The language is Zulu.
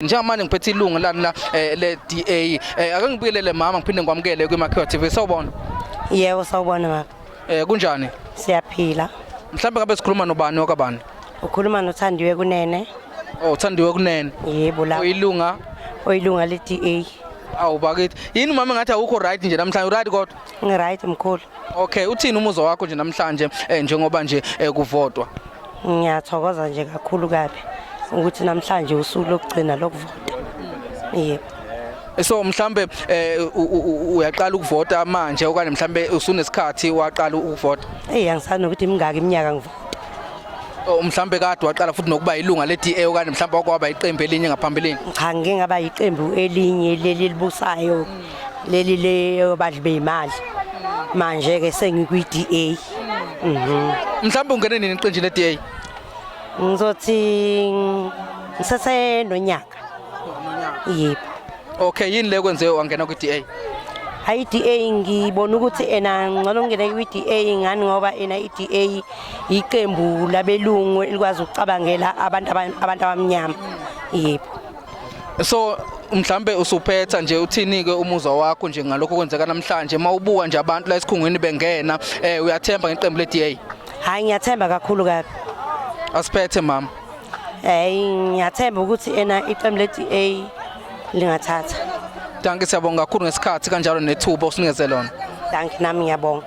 njengamanje ngiphethe ilungu lani la eh, le DA eh, ake ngibuyelele mama ngiphinde ngikwamukele kwiMakhiwa TV sawubona Yebo sawubona baba. eh kunjani Siyaphila. mhlawumbe ngabe sikhuluma nobani wakabani Ukhuluma noThandiwe kunene. oh uthandiwe kunene Yebo la. uyilunga Oyilunga le DA. awu bakithi yini mama ngathi awukho right nje namhlanje uright kodwa Ngiright mkhulu. Okay, uthini umuzwa wakho nje namhlanje eh, njengoba nje eh, kuvotwa? Ngiyathokoza nje kakhulu kabi ukuthi namhlanje usuku lokugcina lokuvota. Yebo. Eh, So mhlambe eh, u- u- u- uyaqala ukuvota manje okanye mhlambe usunesikhathi waqala ukuvota? Eyi angisani nokuthi imingaki iminyaka ngivota. Oh, mhlambe kade waqala futhi nokuba ilunga le-DA okanye mhlambe wakwaba iqembu elinye ngaphambilini? Cha ngike ngaba yiqembu elinye leli elibusayo. leli leyobadli beyimali manje ke sengikwi-DA mhm mhlawumbe ungene nini eqenjini le-DA ngizothi ngisesenonyaka yebo okay yini le kwenze wangena kwi-DA hayi i-DA ngibona ukuthi ena ngcono ngingene kwi-DA ngani ngoba ena i-DA yiqembu labelungu elikwazi ukucabangela abantu abantu abamnyama yebo so mhlambe usuphetha nje uthini-ke umuzwa wakho nje ngalokho kwenzeka namhlanje uma ubuka nje abantu la esikhungweni bengena um uyathemba ngeqembu le-d a hhayi ngiyathemba kakhulu kabi asiphethe mama hhayi ngiyathemba ukuthi ena iqembu le-d a lingathatha danki siyabonga kakhulu ngesikhathi kanjalo nethuba usinikeze lona danki nami ngiyabonga